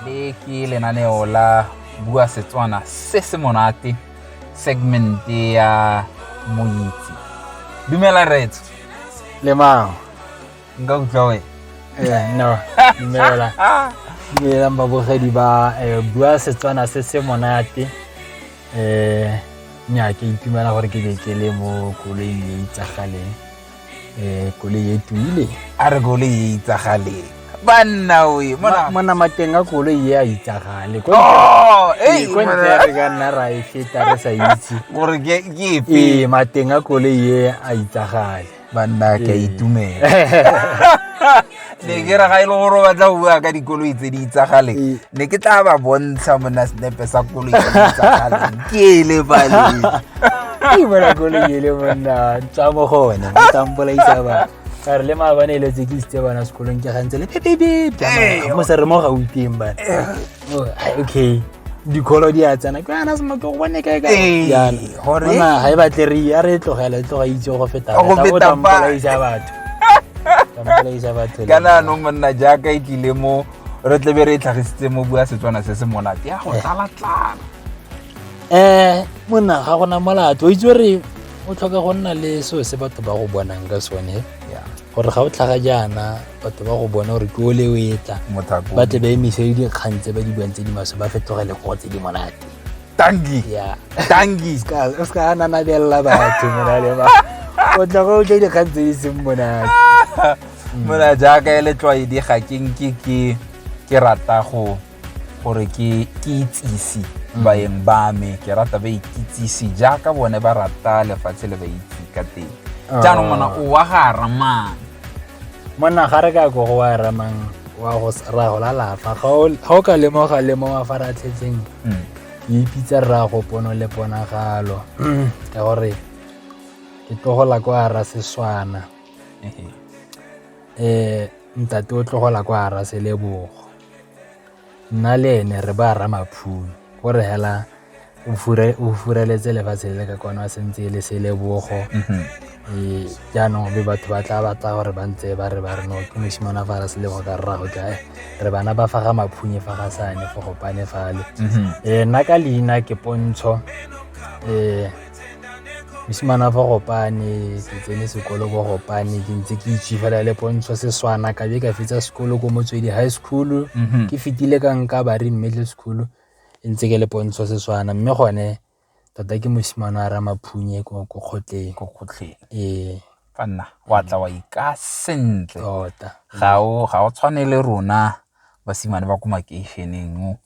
le ke lenaneo la bua setswana se se monate segmente ya moitse dumela retso le mao nka utlwa we eh, no dumelang dumelang babogedi ba eh, bua setswana se se monate um nya ke itumela gore ke be ke le mo koloi e itsagaleng um koloi e tumile a re koloi e itsagaleng banna oe monamateng a koloi e a itsagale kontle oh, re ka nna ra e feta re sa itse gore ke epe ee, mateng a koloi e a itsagale banna ke a Ee. itumela ne ke ra ga e le gore o batla go bua ka dikoloi tse di itsagaleng Ee. ne ke tla ba bontsha mona senepe sa koloi tse di itsagaleng ke ele baleng Ai, bona koloi ele monna tswa mo go one mo tampolaisa ba ka re le maabane e letse ke isitse bana sekolong ke gantse le pepepe Ee. mo se re mo gauteng bana oh, okay dikholo di a tsena ke yana semoto go bone kae kaeana gore ga e batle re ya re tlogela e tloga e itse go fetaampolaisa batho tampolaisa batho ka naanong monna jaaka e tlile mo re tlebe re e tlhagisitse mo bua setswana se se monate ya go eh. tlalatlala um eh, monna ga gona molato o itse re o tlhoka go nna le seo se batho ba go bonang ka sone gore ga o tlhaga jaana batho ba go bona gore ke o le o etla ba tle ba emise le dikgang tse ba di buang tse di maswe ba fetogele go tse di monate tangi tangi o se ka nanabelela batho monale ba o tla go utlwa dikgang tse di seng monate mona jaaka e letlwaedi ga ke nke ke rata go gore ke itsise baeng ba me ke rata ba ikitsise jaaka bone ba rata lefatshe le ba itse ka teng ah. jaanong mona o wa ga ramang monna ga re ka ko go wa ramang wa go ra go lalafa ga o ka lemoga le mo mafaratlhetseng mm. ke ipitsa rra go pono le ponagalo mm. ka gore ke tlogola ko ara seswana um ntate o tlogola ko ara selebogo nna le ene re ba ramaphumo o re hela o fureletse lefatshe le ka kwana sentse e le selebogo mhm. ee jaanong be batho ba tla batla gore ba ntse ba re ba re no ke mosimane fa re selego ka rrago ka eh, re bana ba fa ga maphunye fa ga sane fo gopane fale mhm. ee nna ka leina ke pontsho ee mosimane fa gopane ke tsene sekolo ko gopane ke ntse ke itse fela le pontsho seswana ka be ka fetsa sekolo ko motswedi high school mhm. ke fetile ka nka bari middle school e ntse ke le pontsho seswana mme gone tota ke mosimane a ramaphunye ko kgotleng ko kgotleng ee fa nna wa tla wa ika sentle tota ga o tshwane le rona basimane ba ko makeišeneng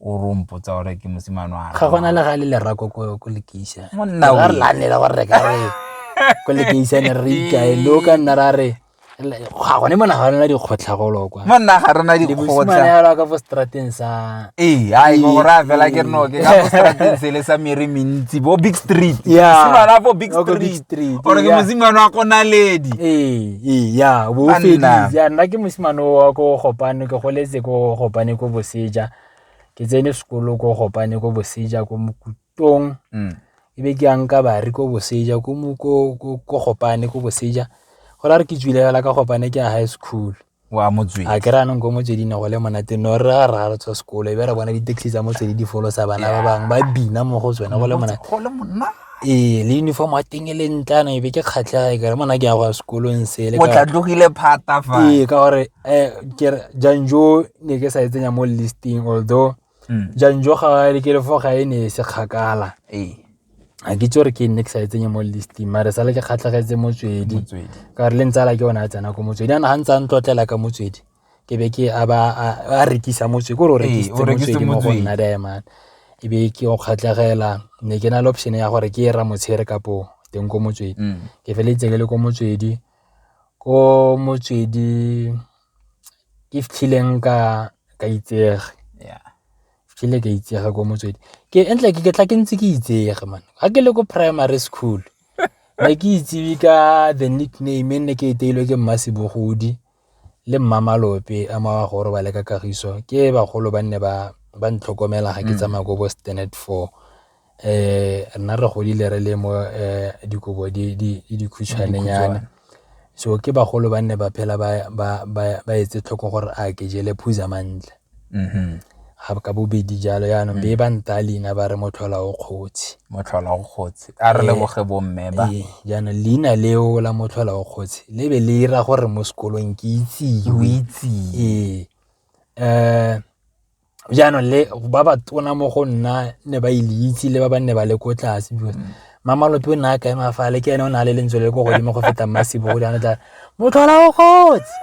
o re o mpotsa gore ke mosimane wa ga gona le ga le lerako ko lekeisa monna re lane la gore ka re ko lekeisane re ikae lo ka nna ra re ga gone mona ga rena dikgotlha golo kwa monna ga rena dikgotlha ka fo strateng sa ee ai go ra fela ke reno ke ka fo strateng se le sa mere mentsi bo big street simana bo big street ore ke mosimane wa konaledi ee Eya, bo feditse. Ya nna ke mosimane wa ko Gopane, ke goletse ko Gopane ko Boseja. Ke tsene sekolo ko Gopane ko Boseja ko Mokutong. Mm. E be ke yang ka bari ko Boseja, ko Gopane ko Boseja. Go ra re ke tswile fela ka Gopane ke ya high school. wa motswedi a ke ra nong ko motsweding go le monate no re ra ra re tswa sekolo e be re bona di-taxi tsa motswedi di folosa bana ba bangwe ba bina mo go tsone go le monate Ee, le uniform ya teng e le ntle yana ebe ke kgatlhega e kare mona ke ya go ya sekolong sele o tla tlogile phata fa ee ka gore um kere janjo ne ke sa e tsenya mo listing although mm. janjo ga le ke lefo ga e ne e se kgakala ee ga ke itse gore ke nne ke sa e tsenye mo listing mare sale ke kgatlhegetse motswedi ka gore le ntsala ke yone a tsena ko motswedi yana ga ntse a ntlotlela ka motswedi ke be ke a ba a rekisa motse ko re o rekisitse mo go nna diamond e be ke o kgatlhegela ne ke na le option ya gore ke e ra motshegare kapo teng ko motswedi mm. ke feleletse ke le ko motswedi ko motswedi ke fitlhileng ka ka itsege fitlhile ka itsege ko motswedi ke entle ke ke tla ke ntse ke itsege man ga ke le ko primary school ne ke itsebi ka the nickname e nne ke e teilwe ke mmasebogodi le mmamelope a maya go robale ka kagiso ke bagolo ba nne ba ba ntlhokomela ga ke mm. tsamaya ko bo standard four eh nna re godile re le mo eh, dikobo di di dikhutshwanenyana so ke bagolo ba nne ba phela ba ba ba etse tlhoko gore a ke jele phuza mantle Mm-hmm. ga ka bobedi jalo yaanong be mm. ba nta leina ba re motlhola o kgotsi motlhola o kgotsi a re leboge eh, bomme ba eh, jaanong leina leo la motlhola o kgotsi le be le ira gore mo sekolong ke itsiwe ee um jaanong le ba ba tona mo go nna ne ba ile e itse le ba ba nne ba le ko tlase because mm. mamalope o ne a kaema fa le ke ene o ne a le lentswe le ko godimo go feta mmasebo go jaanong tla motlhola o kgotsi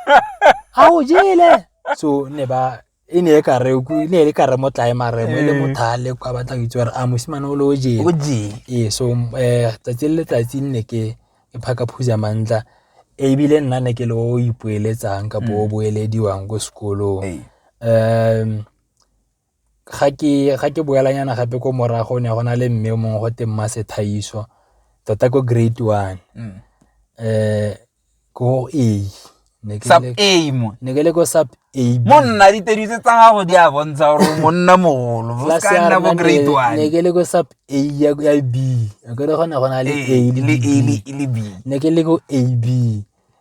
a o jele so ne ba e ne e ka re e ne e ka re mo tlae mare mo e le eh. mothale kwa batla go itse gore a mosimane o le o jeng o jeng ee so um tsatsi le letsatsi nne ke ke phaka phuza mantla ebile nna ne ke le o ipoeletsang ka bo mm. boelediwang ko sekolong um ga ke boela nyana gape ko morago ne go na le mme o mongwe go teng mma sethaiso tota ko grade one mm. eh ko A ne ke le ko sub A monna ditedi tse tsa gago di a bontsha gore monna mogolo ne ke le ko sub A ya B kere gona go na le A le B ne ke le ko A B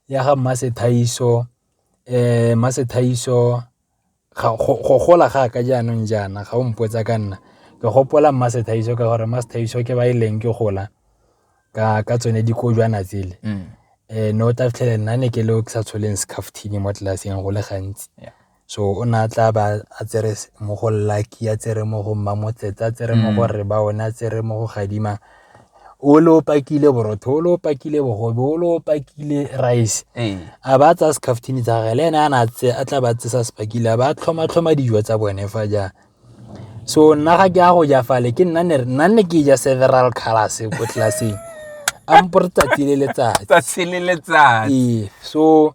ya ga mma sethaiso eh mma sethaiso go gola ga ka jaanong jaana ga o mpotsa ka nna ke gopola mma Sethaiso ka gore mma Sethaiso ke ba e leng ke gola ka tsone dikojwana tsele um ne o tla fitlhele nna ne ke le o ke sa tsholeng scaftini mo tlelaseng go le gantsi so o ne a tla ba a tsere mo go lucky a tsere mo go mma motsetsa a tsere mo go rre ba one a tsere mo go gadima o le o pakile borotho o le o pakile bogobe o le o pakile rice ee. a ba tsaya scaftini tsa gage le ene a na tse a tla ba tse sa se pakile a ba tlhoma tlhoma dijo tsa bone fa jang so nna ga ke a go ja fale ke nna ne nna ne ke ja several colors ko tlelaseng a mpore tsatsi le letsatsi tsatsi le letsatsi ee so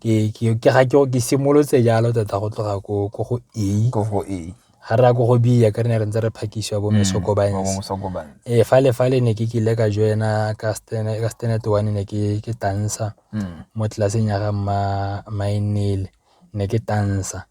ke simolotse jalo tota go tloga ko go A, ko go A ga re ya ko go B ya ka re ne re ntse re phakisiwa bo Mosokobane. Ee, fa le fa le ne ke kile ka join-a ka standard one ne ke tansa mo tlelaseng ya ga mma Mainile ne ke tansa .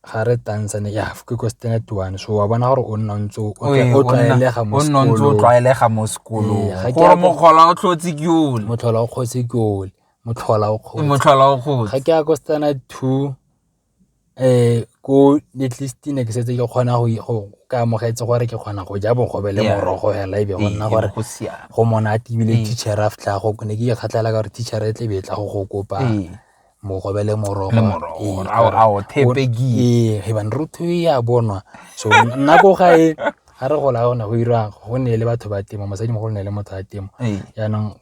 ga re tantsane ya ke ko standard one so wa bona gore o nna ntse o tlwaelega mo sekolong o nna ntse o tlwaelega mo sekolong ee, gore motlhola o tlhotse ke ole motlhola o kgotse ke ole motlhola o kgotse motlhola o kgotse ga ke ya ko standard two eh ko at least ne ke setse ke kgona go go ka amogetse gore ke kgona go ja bogobe le morogo hela ebe go nna gore go monate ebile teacher a fitlha go ne ke kgatlhela ka gore teacher e tle be e tla go go kopa mogobe le morogo ee ebane re tho e a bonwa so nna ko gae ga re gola gona go irang go ne le batho ba temo mosadi mogolo ne le motho wa temo jaanong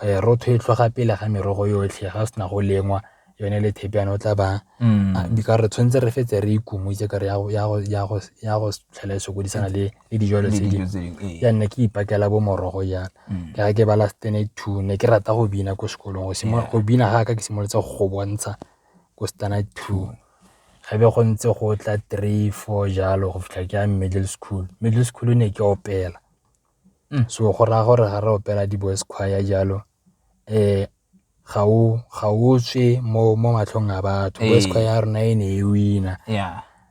eh, rotho e tlhoga pele ga merogo yotlhe ga sena go lengwa yone le thepe yana o tla ba mm. ah, ka re tshwanetse re fetse re ikumotse ka re ya go tlhela e sokodisana le le dijalo tse dingwe ya nna ke ipakela bo morogo jana mm. ka ke ba last tene two ne ke rata go bina ko sekolong go simolola go bina ga ka ke simolotse go bontsha ko stana two mm. ga be go ntse go tla three four jalo go fitlha ke ya middle school middle school ne ke opela mm. so go raya gore ga re opela di-boys choir jalo um ga o tswe mo matlhong a batho ee. wesco ya rona e ne e wina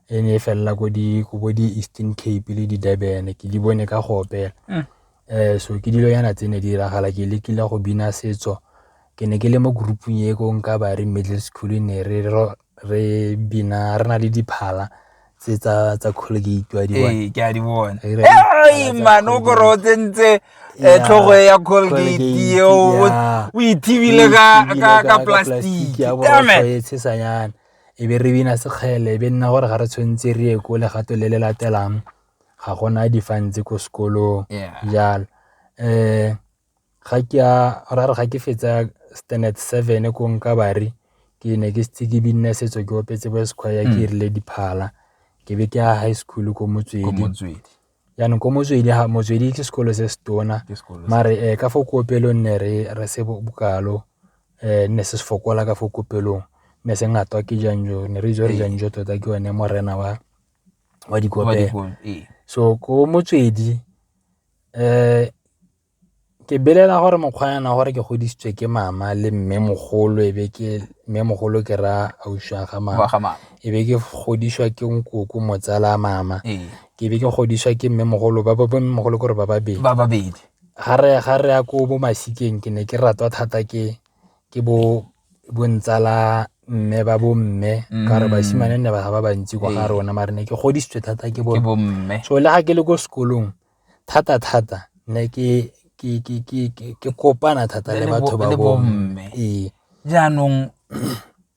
e ne e felela ko bo di-eastern cape le di-durban ke di bone ka go opela um so ke dilo yana tse ne di diragala ke lekile go bina setso ke ne ke le mo groupung e ko nka ba re middle school ne re re bina re na le diphala tse tsa tsa colgate wa di bona ee ke a di bona Re na le diphala ai tsa mano o kore o Colgate. tsentse eh, Yeah. tlhogo ya colgate Colgate, eo o- yeah. o ithibile ka Ebile ka- ka plastic ya Damn it. borosho e tshesanyana e be re bina sekgele e be nna gore ga re tshwanetse re ye ko legato le le latelang ga gona difantse ko sekolong Yeah. jalo um ga ke a ra re ga ke fetsa standard seven ko nka bare ke ne ke setse ke binne setso ke opetse bo sequire ke hmm. rile diphala ke be ke a high school ko motswedi jaanong ko motswedi ha motswedi ke sekolo se se tona mare um ka fo kopelong ne re re se bokalo um ne se se fokola ka fo kopelong ne se ngatwa ke janjo ne re itse gore janjo tota ke one morena wa wa dikopelo so ko motswedi Ke belela gore mokgwa yana gore ke godisitswe ke mama le mmemogolo e be ke mmemogolo ke ra ausi wa ga mama, e be ke godisiwa ke nkoko motsala wa mama, ke be ke godisiwa ke mmemogolo ba bo mmemogolo ke gore ba babedi. Ga re ya ko bo masikeng ke ne ke ratwa thata ke bo. bontsala mme ba bomme mm. ka gore basimane nne ba ga ba bantsi kwa ga rona mare ne ke godisitswe thata ke bomme so le ga ke le ko sekolong thata thata ne ke ke kopana thata le batho ba bomme ee jaanong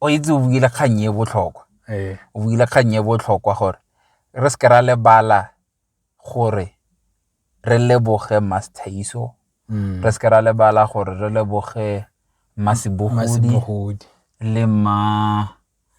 o itse o buile kgang e botlhokwa ee. o buile kgang e botlhokwa gore re se ke ra lebala gore re leboge Masthaiso mm. re seke ra lebala gore re leboge Masibogodi le ma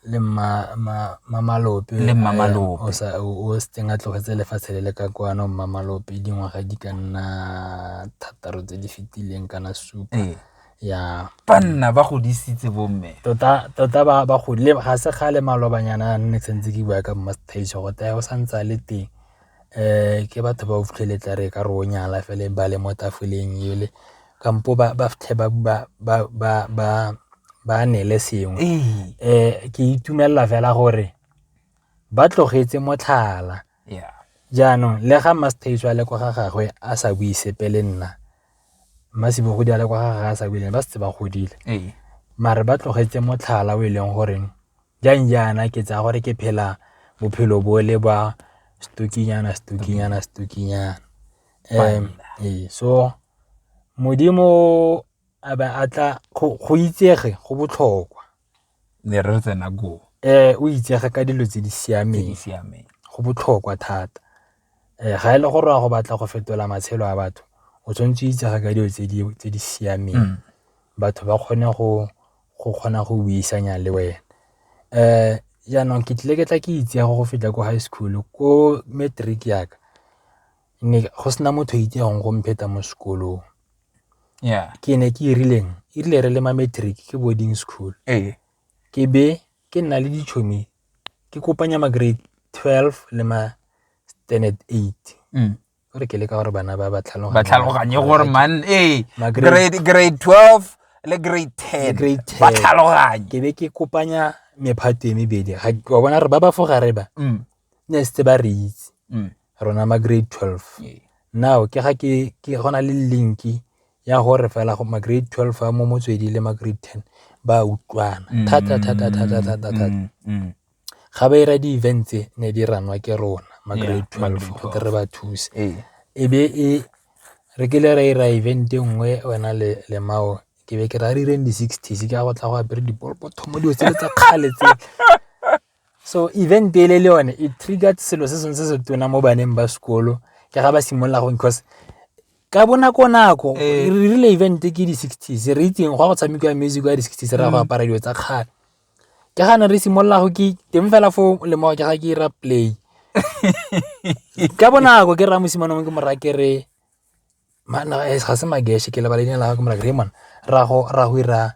le mamalope le mamalope eh, o setseng a tlogetse lefatshe le le ka kwano mamalope dingwaga di ka nna thataro tse di fetileng kana supa ee. ya banna ba godisitse bomme tota tota ba ba godile ga se gale malobanyana a nne tshwanetse ke bua ka mmastage go taya o santse a le teng um ke batho ba o fitlhele tla re ka re o nyala fele ba le mo tafoleng ele kampo ba fitlhe ba nele sengwe um eh, ke itumelela fela gore ba tlogetse motlhala jaanong le ga mmastage a le kwa ga gagwe a sa bue sepe le nna masibo go di ale kwa ga ga sa bile ba setse ba godile ee. mare ba tlogetse motlhala o e leng gore jang jaana ke tsaya gore ke phela bophelo bo le ba stukinyana stukinyana stukinyana um ee so modimo a ba a tla go itsege go botlhokwa ne re tsena koo. Ee, o itsege ka dilo tse di siameng. Go botlhokwa thata ga e le gore wa go batla go fetola matshelo a batho o tshwanetse o itsege ka dilo tse di siameng mm. batho ba kgone go kgona go buisana le wena. Um jaanong ke tlile ke tla ke itsege go feta ko high school ko matric yaka go sena motho o itsegeng go mpheta mo sekolong. yeah ke ne ke e rileng e rile re le ma matric ke boarding school ee ke be ke nna le ditšhomi ke kopanya ma grade 12 le ma standard 8 mm. gore ke le ka gore bana ba ba tlhaloganye gore man ee grade 12 le grade 10 ba tlhaloganye ke be ke kopanya mephato e mebedi wa bona re ba ba fogare ba mm. ne setse ba re itse mm. rona ma grade 12 now ke ga ke go na le linki ya gore fela ma grade 12 a mo motswedi le ma grade 10 ba utlwana mm. thata thata thata thata thata mm, ga ba ira di-event tse ne di ranwa ke rona ma grade 12 gote re ba thuse ee. e be e re kile ra ira event e nngwe wena le le mao ke be ke ra re ireng di-sixties ke a go tla go apere dipolopotho mo dilo tse le tsa kgale tse So event ele le yone e triggered selo se sengwe se se tona mo baneng ba sekolo ke ga ba simolola go because ka bonako nako eh. re rile event ke di sixties re itseng go ya go tshamekiwa music ya di sixties re ya go mm. apara dilo tsa kgale ke ga ne re simolola go ke teng fela fo lemoga ke ga ke ira play ka bonako ke raya mosimane mongwe ke moraya ke re ga se mageisha ke lebala leina la gagwe like Raymond rraago o ira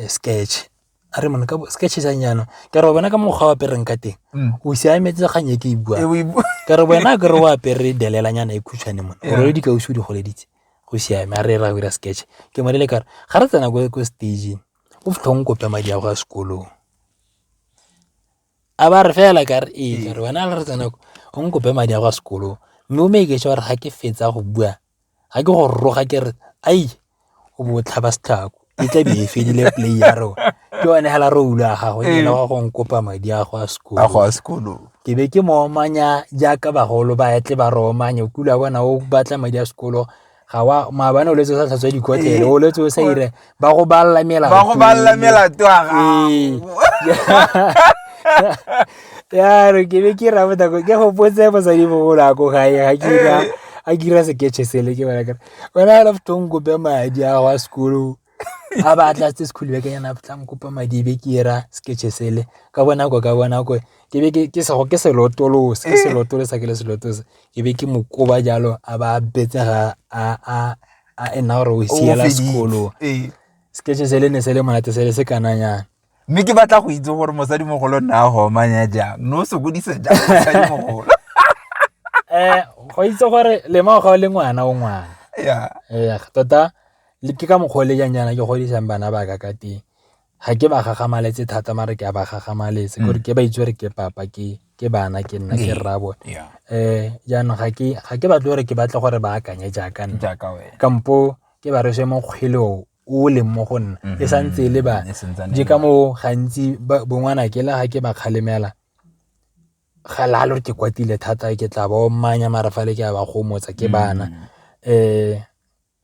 sketch, a Raymond sketch e jang jaana ke a re wena ka mokgwa o apereng ka teng mm. o siametse kgang e ke e buang e ka re wena ke re o apere delelanyana e khutshwane mone o role dikausi o di goleditse go siame a re ra go ira sketch ke mo lele kare ga re tsena ko stageng o fitlhong kope madi a go ya sekolong a ba re fela ka re ee ka re wena le re tsena ko o nkope madi a kwa sekolong mme o make sure ga ke fetsa go bua ga ke go roga ke re ai o bo o tlhaba setlhako e tla be e fedile play ya rona ke one fela re ula gago e le wa go nkopa madi a go a sekolo a go a sekolo ke be ke mo omanya jaaka bagolo ba etle ba re omanya o kula bona o batla madi a sekolo ga wa maabane o letse o sa tlhatswa dikotlele o letse o sa ire ba go balela melato ba go balela melato a ya re ke be ke ra bota ke go potse mosadi mogolo a ko gae ga ke ra a ke ra seketšhe sele ke bona kare wena a lafto nkope madi a wa sekolo a ba tla tse school beke yana tla nkopa madi be ke era sketche sele ka bona go ka bona go ke be ke se go ke se lotolo se se lotolo sa ke le se lotolo se ke be ke mo koba jalo a ba betse ga a a a ena gore o siela sekolo sketche sele ne sele monate sele se kananyana mme ke batla go itse gore mosadimogolo nna a gomanya jang no o sokodisa jang mosadimogolo um go itse gore lema ga o le ngwana o ngwana ee tota ke ka mokgwa o le jang jaana ke godisang bana ba ka ka teng ga ke ba gagamaletse thata mare ke a ba gagamaletse gore mm. ke ba itse gore ke papa ke ke bana ke nna ke rra bone um jaanong ga ke batle gore ke batle gore ba akanye jaaka nna kampo ke ba rese mo kgweleo o leng mo go nna e mm-hmm. sa ntse e le bana je ka moo gantsi bongwana ke la ga ke ba kgalemela ga la lo ke kwatile thata ke tla ba o mmanya mara fa le ke ba go motsa ke bana um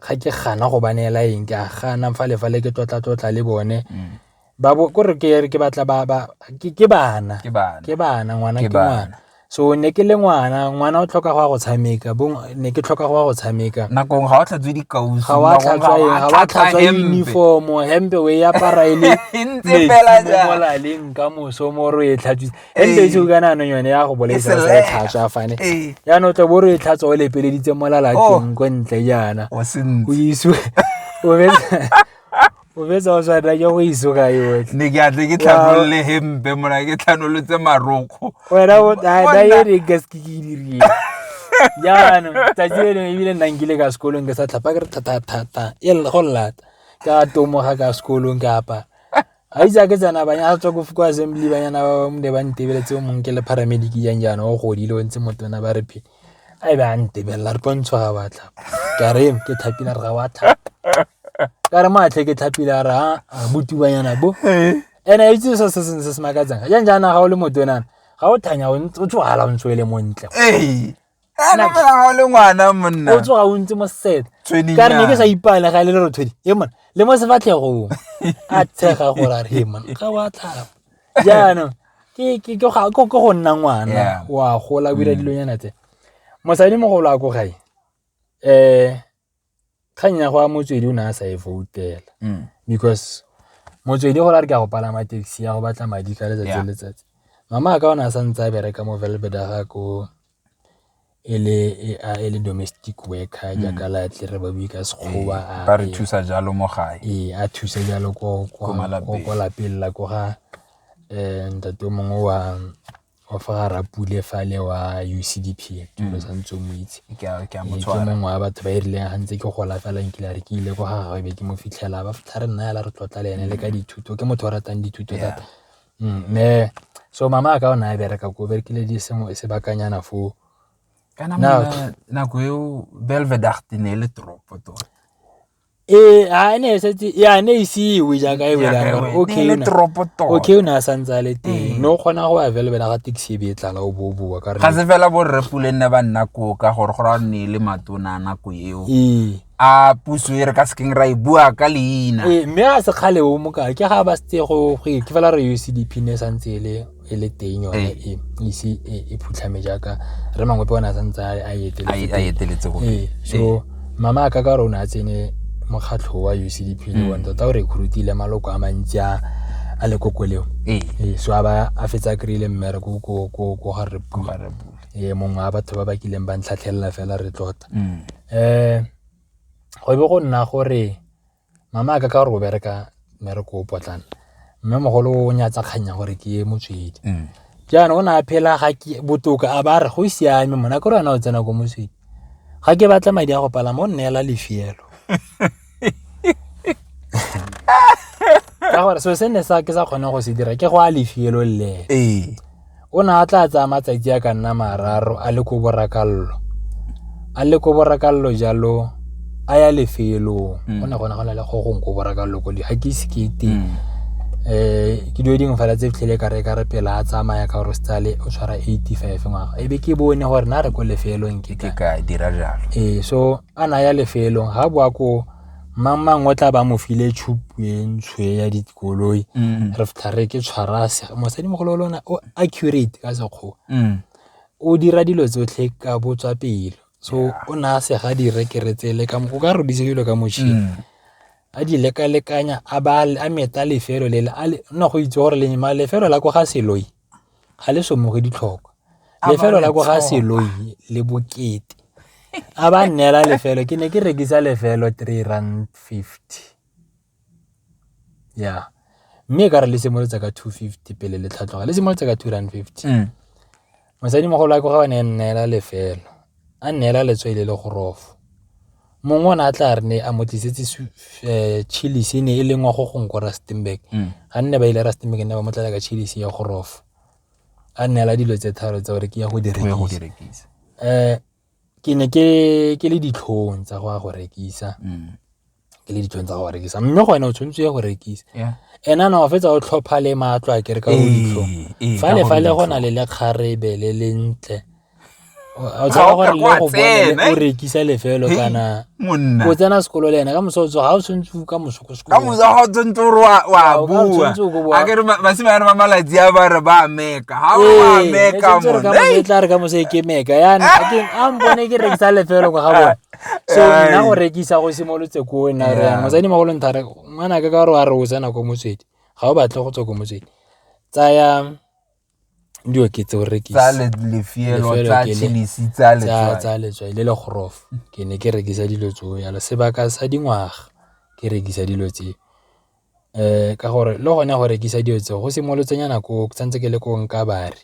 ga ke gana go ba neela eng ke a gana fa le fa le ke tlotla tlotla le bone mm. ba bo gore ke ke batla ba ba ke ke bana ke bana ke bana ngwana ke ngwana so ne ke le ngwana ngwana o tlhoka go ya go tshameka bo ne ke tlhoka go ya go tshameka nakong ga o tlhatswe dikausi ga wa tlhatswa ga wa tlhatswa uniform hempe we ya para ile e ntse fela ja mo la leng ka moso mo ro e tlhatswa hempe e tshuka nano yone ya go boletsa sa e tlhatswa fane ya no tle bo ro e tlhatswa o le pele ditse mo la la teng oh. go ntle jana o sentse o iswe o be o betsa o tshwana ya go iso ka yotlhe ne ke atle ke tlhanolole hempe mona ke tlhanolotse marokgo wena na ye ne ka se ke ke dirile jaanong tsatsi le lengwe ebile nna nkile ka sekolong ke sa tlhapa ke re thatathata e go llata ka tomoga ka sekolong ke apa ga itse ke tsena banya a tswa ko ko assembly banyana ba bamne ba ntebeletse o mongwe ke le paramedic jang jaana o godile o ntse motona ba re phele a e be a ntebelela re pontshwa ga wa tlhapa ka re ke tlhapile re ga wa tlhapa ka re matlhe ke tlhapile a re a botubanyana bo ene itse se se seng se se makatsang ga jang jaana ga o le motonana ga o thanya o tsogala o ntse o le montle o tsoga o ntse mo set ka re ne ke sa ipale ga e le le rothodi e mone le mo sefatlhegong a tshega gore a re e mone ga wa tlhapa jaanong ke ke ke ga- ke- ke go nna ngwana Yeah. wa gola o dira Mm. dilonyana tse mosadi mogolo a ko gae um kgang ya go a motswedi o ne a sa e voutela Mm. because motswedi gore a re ke a go palama taxi ya go batla madi ka letsatsi Yeah. le letsatsi mama a ka o ne a sa ntse a bereka mo velbeda ga ko e le a e le domestic worker jaaka la tle re ba bue ka sekgowa a ba re thusa jalo mo gae ee a thusa jalo ko kwa malapeng ko lapeng la ko ga um ntate o mongwe wa wa fa ga rapule fa le wa U_C_D_P ke mo santse o mo itse ke a ke a motshwara ke mongwe wa batho ba e rileng ga ntse ke gola fela nkile a re ke ile ko ga gagwe be ke mo fitlhela ba fitlha re nna fela re tlotla le ene le ka dithuto ke motho o ratang dithuto thata Mme so mama a ka o ne a bereka ko berekile di sengwe sebakanyana foo kana nako eo belvedart ne e le toropo tota ee a ne e setse ya ne e siwe jaaka e wela gore okay le toropo tota okay o ne a santse a le teng mm. no kgona go ya belveda ga taxi e be e tlala o bo boa ka re ga se fela bo rre pule nne ba nna koo ka gore go ra nne e le matona nako eo ee a puso e re ka sekeng ra e bua ka leina ee mme a se kgale o moka ke ga ba setse go go ke fela re UCDP ne sa ntse e le e le teng yone ee. e ise e, e phutlhame jaaka re mangwe pe ona sa ntse a eteletse go ee so ee. mama a ka ka rona a tsene mokgatlho wa UCDP le mm. one tota o recruitile maloko a mantsi a a le koko leo ee. ee so a ba a fetsa kry-ile mmere ko ga re ee mongwe a batho ba ba kileng ba ntlhatlhelela fela re tlota mm. Go be go nna gore mama a ka ka gore o bereka mmereko o potlana mme mogolo o nyatsa kgang ya gore ke ye motswedi mm. jaanong o ne a phela ga ke botoka a ba re go siame mona ke re wena o tsena ko motswedi ga ke batla madi a go palama o nneela lefielo ka gore so se ne sa ke sa kgone go se dira ke go a lefielo le ee o ne a tla tsaya matsatsi a ka nna mararo a le ko borakallo a le ko borakallo jalo a ya lefelong mm. go ne gona go na le go gong ko borakallo ko di ga ke ise ke teng um mm. eh, ke dio dingwe fela tse fitlhele ka re ka re pela a tsamaya ka gore stale o tshwara eighty five ngwaga e be ke bone gore na re ko lefelong ke ka dira jalo ee so a naya lefelo ga bo a ko mang mang o tla ba mo file tshupentshwe ya dikoloi mm. re fitha re ke tshwarase mosadimogolo lona o accurate ka sekgowa mm. o dira dilo tsotlhe ka botswa pelo so o ne a sega direkere tsele ka o ka rodise dilo ka motšhini mm. a di lekalekanya a ba a meta lefelo lele nna go itse gore lefelo la ko ga seloi ga le somoge ditlhokwa lefelo la ko ga seloi le bokete a ba nnela lefelo ke ne ke rekisa lefelo three rand fifty ya mme e ka re le simolotsa ka two fifty pele le tlhatlhoga le simolotsa ka two rand fifty mm. mosadimogolo a ko ga o ne nnela lefelo a nnela letswele le gorofo mongwe o ne a tla re ne a mo tlisetse eh, chillis e ne e lengwa go gong ko rustenburg mm. ga nne ba ile rustenburg ne ba mo tlala ka chillis ya gorofo a neela dilo tse tharo tsa gore ke ya go di rekisa um ke ne ke le ditlhong tsa go ya go rekisa mm. ke le ditlhong tsa go rekisa mme gone o tshwanetse ya go rekisa ena na o fetsa o tlhopha le matlo a kere ka go ditlhong fale fale go na le lekgarebe le lentle o tsena gore le go bona o rekisa lefelo kana o tsena sekolo le ena ka moso tsoga o tshwanetse o ka moso ko sekolo ka moso ga o tshwanetse o re wa bua a ke re basime yana ba malatsi a ba re ba meka ha o ba meka mo ka moso tla re ka moso e ke meka yana a ke a mbone ke rekisa lefelo go ga bona so nna go rekisa go simolotse ko nna re yana motsadi magolo nthare ngwana ka ka gore wa re o tsena ko motswedi ga o batle go tswa ko motswedi tsaya dilo ke tse o rekisa lefielo tsa chilisi tsa letswai tsa letswai le le gorofa ke ne ke rekisa dilo tseo yalo sebaka sa dingwaga ke rekisa dilo tse um ka gore le gone go rekisa dilo tseo go simolotse nyana ko ke santse ke le ko nka bare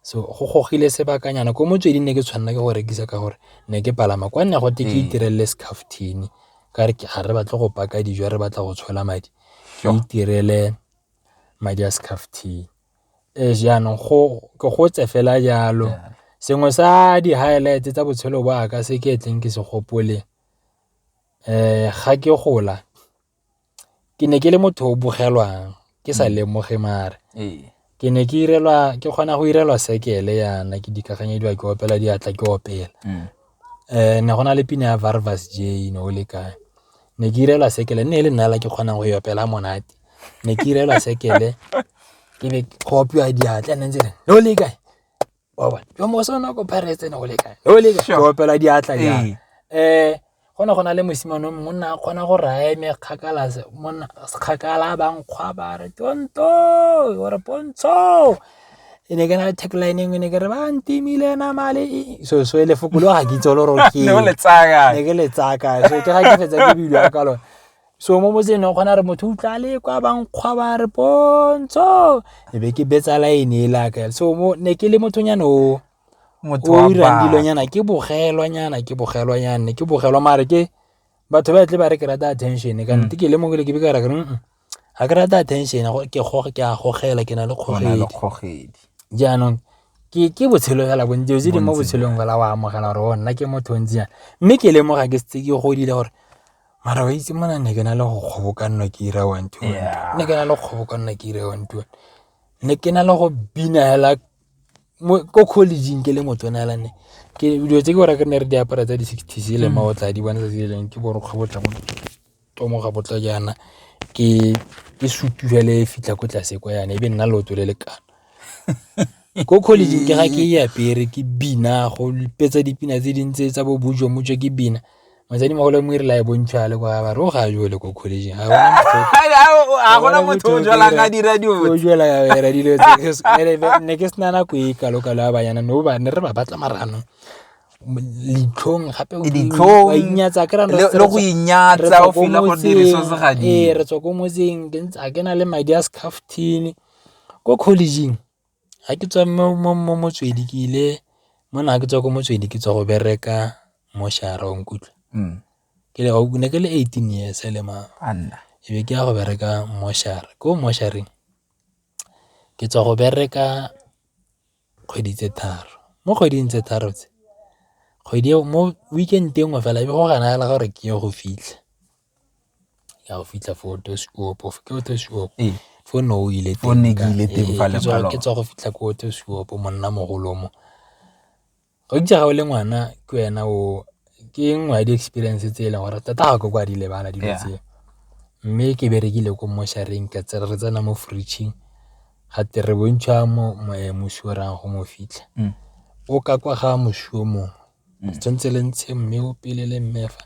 so go gogile sebakanyana ko motsweding ne ke tshwanela ke go rekisa ka gore ne ke palama kwa nna go te ke itirelele scaftini ka re ga re batle go paka dijo re batla go tshola madi ke itirele madi a scaftini. Ee, jaanong ke gotse fela jalo. Sengwe sa di-highlight-e tsa botshelo ba ka se ke tleng ke se gopole, ga ke gola ke ne ke le motho o bogelwang ke sa lemoge mare. Ke ne ke kgona go irelwa sekele yana, ke dikaganyediwa ke opela diatla ke opela. um ne go na le pina ya varvas j ne o le kae ne ke irelwa sekele nne e le nnala ke kgonang go e opela monate ne ke irelwa sekele ke be go opiwa diatla nne ntse ne o le kae oba jwa moso nako pirates ne go le kae ne o le kae go opela diatla ja um eh, go ne go na le mosimane mongwe o nna a kgona go raya eme kgakala ba nkgwa ba re tonto ore pontsho e ne ke na le tagline engwe ne ke re ba ntimile na male so so e lefoko lo ga ke itse lo rokeng ne ke le tsaya kae so ke ga ke fetsa ke bilo ka lone so mo motseng o kgona re motho utlwa le kwa bankgwa ba re pontsho e be ke betsa line e laka so mo ne ke le mothonyana o o irang dilonyana ke bogelwanyana ke bogelwanyana ke bogelwa mare ke batho ba tle ba re ke rata attention ka nnete ke le mongwe le ke be ka ra ke ga ke rata attention ke goge ke a gogela ke na le kgogedi jaanong ke botshelo fela bontsi dilo tse di mo botshelong fela o amogela gore o oh, nna ke motho ntsi yana mme ke lemoga ke setse ke godile gore mara wa itse mona ne ke na le go kgobokanna ke ira one two ne ke na le go kgobokanna ke ira one two ne ke na le go bina fela ko collegeng ke le motsona fela ne ke dilo tse ke gore ke ne re diapara tsa di-sixties e leng mm. maotla di bontsatsi e leng ke borokgwe botlamo tomo ga botla jaana ke ke sutu fela e fitlha ko tlase kwa yana e be nna leoto le lekana ko college ke ga ke e apere ke bina go lipetsa dipina tse di ntse tsa bo bujo mujo ke bina motsadi mogolo mo re la e bontšha le kwa ba ro ga jo le ko college ga a gona motho o jwala ka dira di o jwala ka dira di le ne ke sna na ko e kalo kalo ba yana no ba ne re ba batla marano leitlhong gape leitlhong inyatsa ke le go inyatsa o feel go dire so se ga di ee re tswa ko motseng ke ntse a kena le madi a scaftini ko collegeng ga ke tswa mo motswedi ke ile mo na ke tswa ko motswedi ke tswa go bereka mo shara o nkutlwa hmm. ke le o ne ke le 18 years le ma anna e be ke ya go bereka mo shara ko mo shareng ke tswa go bereka kgwedi tse tharo. Mo kgweding tse tharo tse, kgwedi eo mo weekend e nngwe fela e be go ganahala gore ke ye go fitlha, ke a go fitlha foo gotwe seopo, go fitlha gotwe seopo, ee fo ne o ile teng, ke tswa go fitlha ko gotwe seopo monna mogolo mo. Gakitse ga o le ngwana ke wena o ke nngwe ya di-experience tse e leng gore tota ga ko kwa di lebala dilo tse, mme ke berekile ko mmošareng ka tse re tsena mo fridge-ing ga twe re bontšha mo moswi o reyang go mo fitlha o ka kwa ga moswi o mongwe le tshwanetse le ntshe mme o pele le mme fa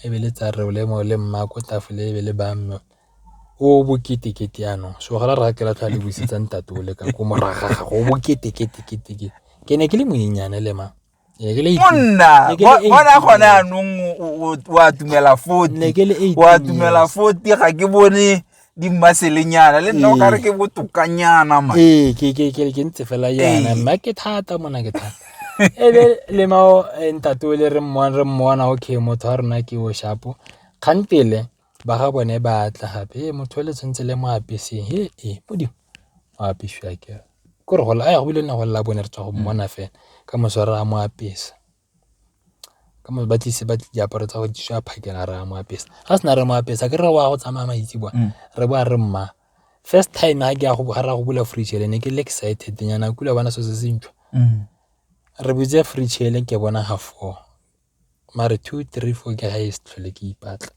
e be le tsa re o le mmaako tafole e be le ba mme. o bokete kete yana so ga re ke latlha le busetsa ntate o le ka ko moraga ga go bokete kete kete ke ke ne ke le monyenyane le ma monna bona gone anong o a tumela foti o a tumela foti ga ke bone di mmaselenyana le nna o kare ke botokanyana ma ee ke ke ke ke ntse fela yana ee. mma ke thata mona ke thata ebe le mao eh, ntate o le re mmona re mmona okay motho wa rona ke o shapo kgantele ba ga bone ba tla gape e motho le tshwanetse le mo apeseng he e modimo o apesiwa ke ko re gola a ya go bile ne go lela bone re tswa go mmona fela ka mosware a mo apesa ka mo ba tlise ba diaparo tsa go di swa phakela re a mo apesa ga sena re mo apesa ke re wa go tsamaya maitse bone mm. re bo a re mma first time ga ke ya go bogara go bula fridge le ne ke le excited nyana kula bona so se se ntšhwa mm. re butse fridge le ke bona ga four mare two three four ke highest tlhole ke ipatla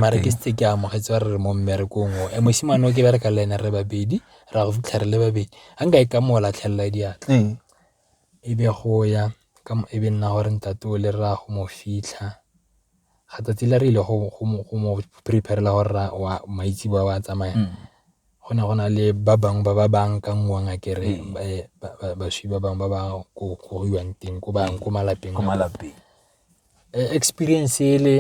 mare ke setse ke amogetse ba re re mo mmerekong o e mosimane o ke bereka le ene re babedi ra go fitlha re le babedi a nka e ka mo latlhelela diatla ee. e be go ya ka e be nna gore ntate o le raya go mo fitlha ga tsatsi le re ile go mo preparela gore wa maitse ba wa tsamaya mm. go ne go na le ba bangwe ba ba baakanngwang a kere baswi ba bangwe ba ba ko gogiwang teng ko bangwe ko malapeng a malapeng experience e le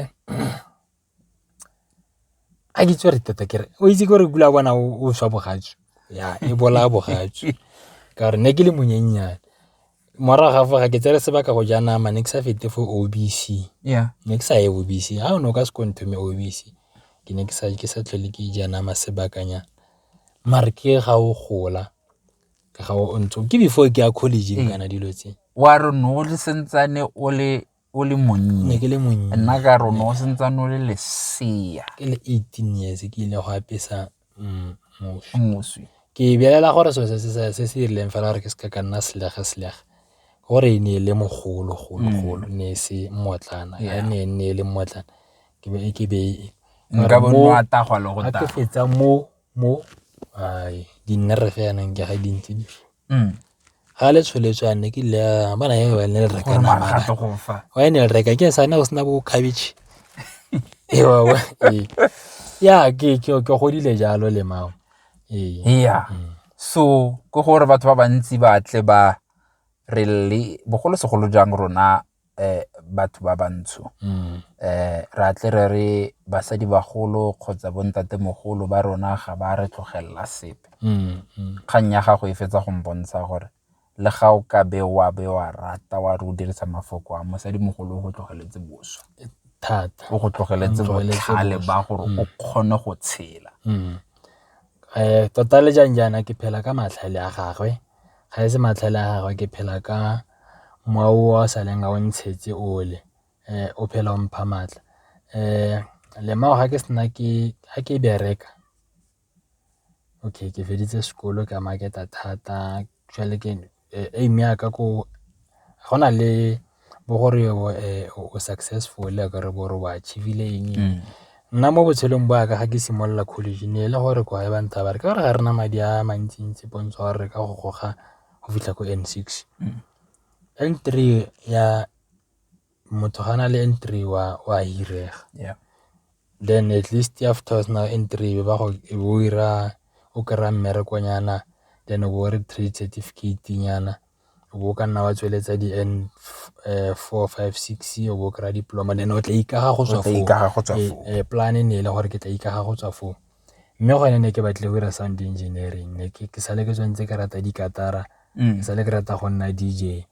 a ke itse re tota kere o itse gore kula bona o swa bogatsu ya e bolaya bogatsu ka gore ne ke le monyennyane Morago ga fa ga ke tsere sebaka go ja nama ne ke sa fete for O_B_C, ne ke sa ye O_B_C ha o ne o ka se ko ntho me O_B_C ke ne ke sa tlhole ke ja nama sebakanyana. Mare ke ga o gola ke ga o ntse ke before ke ya college kana dilo tse. Wa re o ne o le santsane o le. o le monnye ke le monnye nna ka rona o sentse o le lesea ke le 18 years ke ile go apesa mm, moswi ke belela gore so se se se rileng fela gore ke se ka nna selega selega gore e ne e le mogolo golo mm. golo ne e se mmotlana ga ne e ne e le mmotlana ke be ke be nka bo nwa tagwa le go ta ke fetsa mo mo di nna re fa yanang ke ga dintsi di ga le tsholetse a ne ke le a bana ya ne le reka nama wa ne le reka ke sa ne go sena bo khabitšhe ewa wa ee. ya ke ke ke godile jalo le mao ee ya mm. so go gore batho ba bantsi ba tle ba re le bogolo segolo jang rona um batho ba bantsho um ra tle re re basadi bagolo kgotsa bontatemogolo ba rona ga ba re tlogelela sepe kgang ya gago e fetsa go mpontsha gore le ga o ka be wa be wa rata wa re o dirisa mafoko a mosadi mogolo o go tlogeletse boswa thata o go tlogeletse botlhale ba gore o kgone go tshela um tota le jang jaana ke phela ka matlhale a gagwe Ga e se matlhale a gagwe ke phela ka mowa o a sa leng a o ntshetse ole o phela o mpha maatla. Lemao ga ke bereka okay ke feditse sekolo ke a market-a thata jwale ke aim ya ka ko go na le. bo gore o successful a ka re bo gore o achieve-le eng. Nna mo botshelong bo ya ka ga ke simolola college ne e le gore ke wa e ba ntsaya ba re ka gore ga re na madi a mantsi-ntsi pontsho ya gore re ka go goga go fitlha ko N six. N three ya motho ga a na le N three wa o a hirega then at least after o sena N three e be o bo o 'ira o kry-a mmerekonyana then o bo o re trade certificate-nyana. o bo o ka nna wa tsweletsa di N four, five, six o bo o kry-a diploma then o tla ikaga go tswa foo plan e ne e le gore ke tla ikaga go tswa foo. Mme gone ne ke batlile go dira sound engineering ne ke sale ke tswa ntse ke rata dikatara ke sale ke rata go nna D_J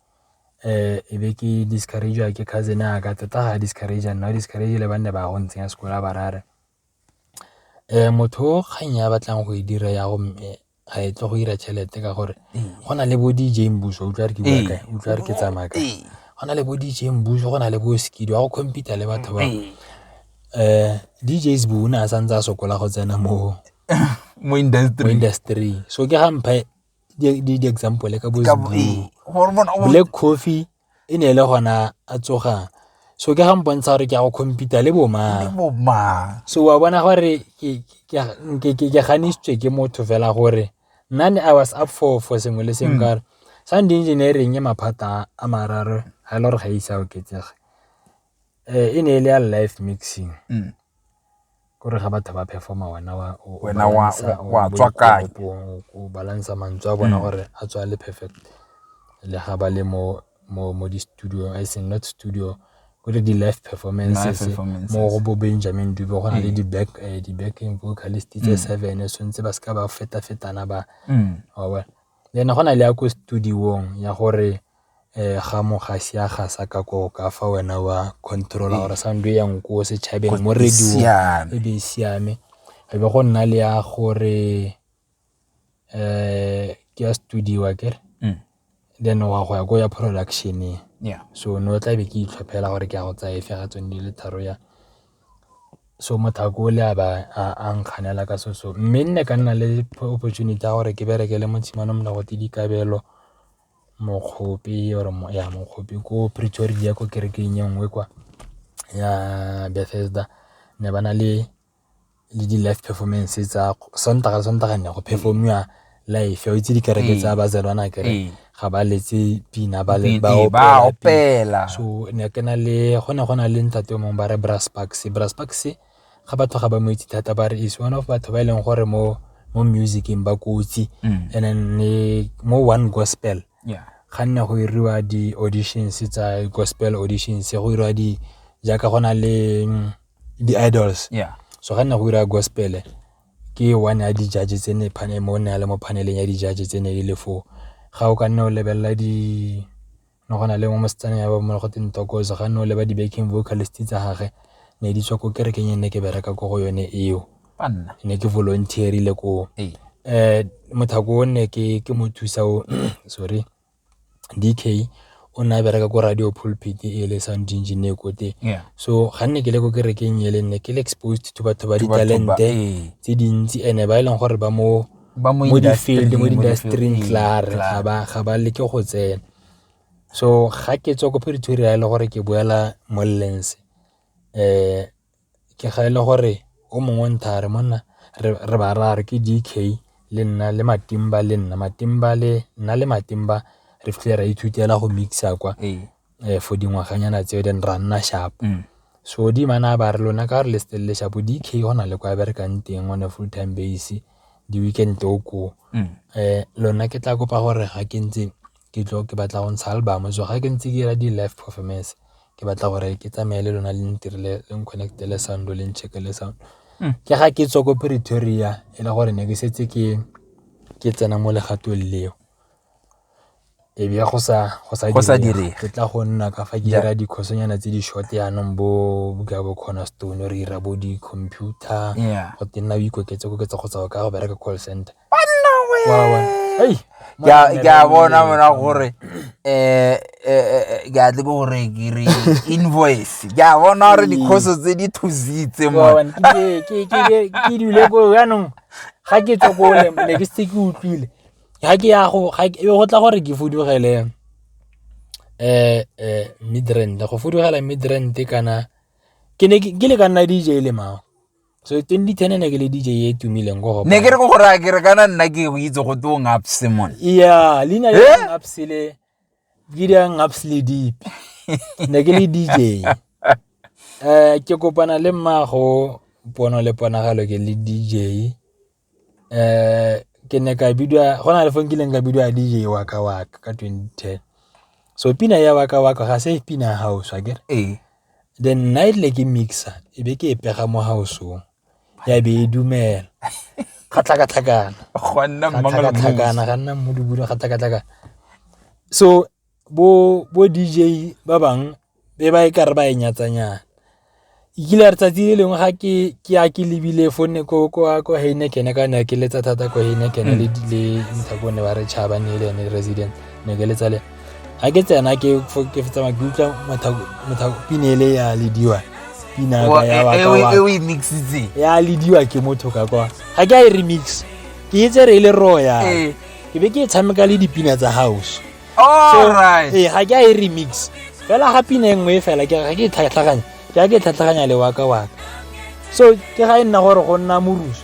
e be ke discourage-iwa ke cousin ya ka tota ga discourage-a nna o discourage-ile ba nne ba go ntsenya sekolo ba ba raya gore. Motho o kgang ya batlang go e dira ya go mme a e tle go dira tšhelete ka gore go na le bo D_J Mmuso o utlwa re ke tsamaya kae, go na le bo D_J Mmuso go na le bo Skido ya go compete-a le batho ba D_J Sbu o ne a santse a sokola go tsena mo industry-ing so ke ga mpha di-example ka bo Sbu, Black Coffee. e ne e le gona a tsoga so ke ga mpontsha gore ke ya go compete le bomang so wa bona gore ke ganitsitswe ke motho fela gore nna ne i was up for for sengwe le sengwe mm. kare sound engineering e maphata a mararo ga e le gore ga e ise a oketsege E ne e le ya live mixing ke gore ga batho ba perform-a wena wa tswa kae o balance-a mantswe a bona gore a tswa le perfect le ga ba le mo di-studio e seng not studio ko re di-live performances mo go bo Benjamin Dube go na le di-backing vocalist tse seven so ntse ba seka ba feta-fetana ba le ene go na le ya ko studio-ng ya gore. ga mo ga sia ga sa ka ko ka fa wena wa control gore sound e yang ko setšhabeng mo radio e be e siame e be go nna le ya gore um ke ya studio a kere mm. then wa go ya ko ya productioneng yeah. so no tla be ke itlhophela gore ke ya go tsaya efe ga tsone di le tharo ya so mothako o le a ba a nkganela ka so so mme nne ka nna le opportunity ya gore ke bereke le motshimane molago te dikabelo mokgope or ya mokgope ko Pretoria ko kerekeng e nngwe kwa ya Bethesda ne ba na le le di live performance tsa sontaga le sontaga ne go perform-iwa live o itse dikereke tsa bazalwana kere ga ba letse pina ba le ba opela so ne ke na le go ne go na le ntate o mongwe ba re Brass Bucks, Brass Bucks ga batho ga ba mo itse thata ba re is one of batho ba e leng gore mo mo musicing ba kotsi mm. and then ne mo one gospel yeah. ga nne go iriwa di-auditions tsa gospel auditions go iriwa di jaaka go na le mm, di-idols yeah. so ga nne go iriwa gospel ke one ya di-judge tse ne mo ne a le mo paneleng ya di-judge tse ne e le foo ga o ka nne o lebelela di ne go na le mo mosetsana ya ba mmogo teng tokoso ga nne o leba di-backing vocalist tsa gage ne di tswa ko kerekeng e ne ke bereka ko go yone eo ne ke volunteerile koo um mothako o ne ke mo thusa o sorry DK o ne a bereka ko radio pulpit e le sound engineer ko teng so ga nne ke le ko kerekeng e le nne ke le exposed to batho ba ditalente tse dintsi and-e ba e leng gore ba mo ba mo di-field mo industry-ing klare ga ba ga ba leke go tsena so ga ke tswa ko Pretoria e le gore ke boela mo Lens eh ke ga e le gore o mongwe ntha re monna re ba ra re ke DK le nna le matimba le nna matimba le nna le matimba re fitlhe ra ithutela go mixa kwa ee. um for dingwaganyana tseo then ra nna sharp mm. so di mana ba re lona ka re le stelele sharp dk go na le kwa berekang teng on a full time base di-weekend o ko um mm. eh, lona ke tla kopa gore ga ke ntse ke tlo ke batla go ntsha album so ga ke ntse ke ra di-life performance ke batla gore ke tsamaye le lona le ntirile le nconnecte le sound le nchecke le sound mm. ke ga ke tswa ko pretoria e le gore ne ke setse ke ke tsena mo legatong leo e be go sa direge ke tla go nna ka fa ke dira dikhosonyana tse di short yanong bo ka bo corner stone re dira bo di-computer go te nna o ikoketse koketsa go tswa ka go bereka call center ke a bona bona gore um ke a tle ke gore ke re invoice ke a bona gore dikhoso tse di thusitse mone ke dule ko yanong ga ke tswa ko ne ke setse ke utlwile Ga ke ya go tla gore ke fudugele Midrand, go fudugela Midrand kana ke ne ke le ka nna D_J le mang. So twenty ten ne ke le D_J e e tumileng ko Hopa. Ne ke re go raya ke re kana nna ke go itse go twe Ngabs mone. Yeah, leina le Ngabs le ke di Ngabs le deep. Ne ke le D_J. Ke kopana le mmago pono le ponagalo ke le D_J Ke ne ka bidiwa, go na le fa nkileng ka bidiwa D_J Waka Waka ka twenty ten. So pina ya Waka Waka ga se pina ya house akere, then nna e rile ke mix-a e be ke e pega mo house-ong ya be e dumela, ga tlhakatlhakana, ga nna mmudubudu, ga tlhakatlhakana. So. bo D_J ba bangwe be ba e kare ba e nyatsanyana. E kile ya re tsatsi le lengwe ga ke ya ke lebile fo ne ko Heineken ka ne ke letsa thata ko Heineken le Nthabong ne ba re Chaba ne e le ene resident ne ke letsa le ene. Ga ke tsena ke tsamaya ke utlwa Mothapo pina ele ya Lediwai pina ya wa ka wa. E o e mix-itseng. Ya Lediwai ke motho ka kwa ga ke a e remix ke e tse re e le royal. ke be ke e tshameka le dipina tsa house ee ga ke a e remix fela ga pina e nngwe e fela ke ga ke e tlhatlhaganya ke ga ke e tlhatlhaganya le waka waka so ke ga e nna gore go nna moruso